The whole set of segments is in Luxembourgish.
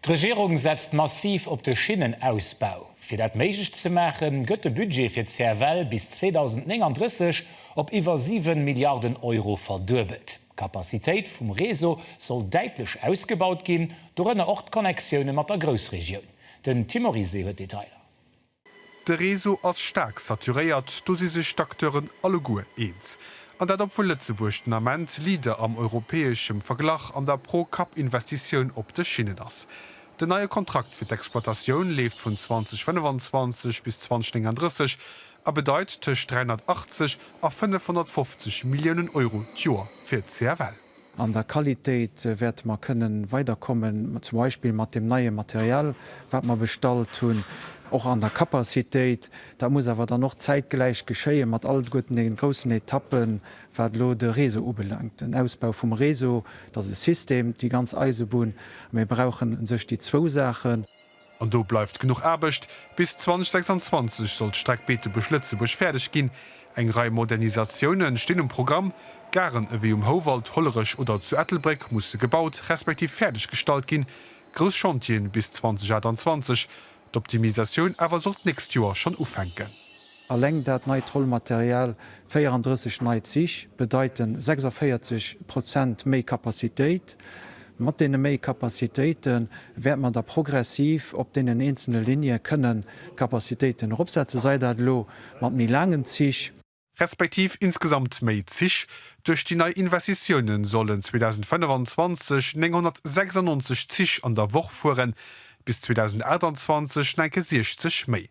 D'Regierung setzt massiv op de Schinnenausbau. Fir dat méiglech ze maachen, gëtt de Budget fir d'CFL bis 2039 op iwwer 7 Milliarden Euro verduebelt. D'Capacitéit vum Réseau soll däitlech ausgebaut ginn, dorënner och d'Connexioune mat der Groussregioun. Den Tim Oryse huet d'Detailer. De Réseau ass staark saturéiert, do si sech d'Acteuren alleguer eens. An dat obwuel Lëtzebuerg den Ament Leader am europäeschem Verglach an der Pro-Kapp-Investitioun op de Schinnen ass. Den neie Kontrakt fir d'Exploitatioun leeft vun 2025 bis 2039 a bedeit tëscht 380 a 550 Milliounen Euro d'Joer fir d'CFL. An der Qualitéit wäerte mer kënnen weiderkommen, zum Beispill mat deem neie Material, wat mer bestallt hunn, och an der Capacitéit. Dat muss awer dann och zäitgläich geschéien mat alleguerten deenen groussen Etappen, wat elo de Réseau ubelaangt, den Ausbau vum Réseau. Dat ass e System, déi ganz Eisebunn. Mir brauchen u sech déi zwou Saachen. An do bleift genuch Aarbecht. Bis 2026 soll d'Streck Beetebuerg-Lëtzebuerg fäerdeg ginn. Eng Rei Modernisatiounen stinn um Programm. Garen ewéi um Houwald, Hollerech oder zu Ettelbréck musse gebaut respektiv fäerdeg gestallt ginn. Grouss Chantieren bis 2028. D'Optimisatioun awer soll d'nächst Joer schonn ufänken. Alleng dat neit Rollmaterial, 34 nei Zich, bedeiten 46 Prozent méi Kapazitéit. Mat deene méi Kapazitéite wäerte mer da progressiv op deenen eenzele Ligne kënnen d'Kapazitéiten eropsetzen, sei dat elo mat méi laangen Zich, respektiv insgesamt méi Zich, duerch déi nei Investitioune sollen 2025 996 Zich an der Woch fueren, bis 2028 enke 60 méi.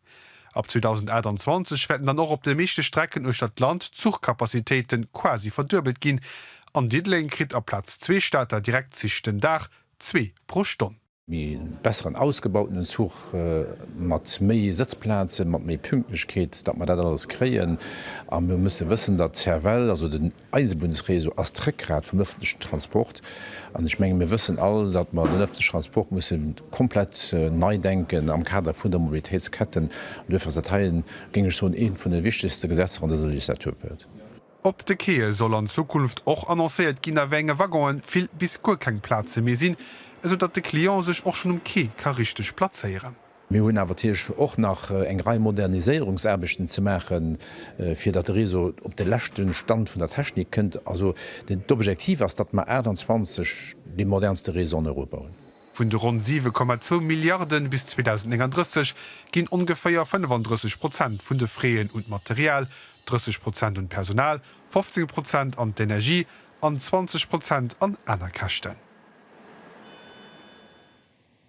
Ab 2028 wäerten dann och op de meeschte Strecken uechter d'Land d'Zuchcapacitéite quasi verduebelt ginn. An Diddeleng kritt aplaz zwee Stater Direktzich den Dag zwee pro Stonn. Mee besseren ausgebautenen Zuch, mat méi Sëtzplazen, mat méi Pünktlechkeet, datt mer dat alles kréien. A mir musse wëssen, datt d'Cervelle, also den Eisebunnsreseau ass d'Réckgrat vum ëffentlechen Transport. An ech menge mir wëssen all, datt mer den ëffentleche Transport musse komplett nei denken am Kader vun der Mobilitéitsketten. An duerfir ass dat hei, géing ech soen, eent vun de wichtegste Gesetzer an dëser Legislaturperiod. Op de Quaie soll an Zukunft och annoncéiert ginn, a wéi enge Waggonen vill bis guer keng Plaze méi sinn, esou datt de Client sech och schonn um Quai ka richteg plazéieren. Mir hunn awer natierlech och nach eng Rei Moderniséierungsaarbechten ze maachen, fir datt de Réseau op de leschte Stand vun der Technik kënnt. Also d'Objektiv ass, datt mer 28 dee modernste Réseau an Europa hunn. Vun de ronn 7,2 Milliarden bis 2039 ginn ongeféier 35 Prozent vun de Frais un d'Material, 30 Prozent un d'Personal, 15 Prozent an d'Energie an 20 Prozent an aner Käschten.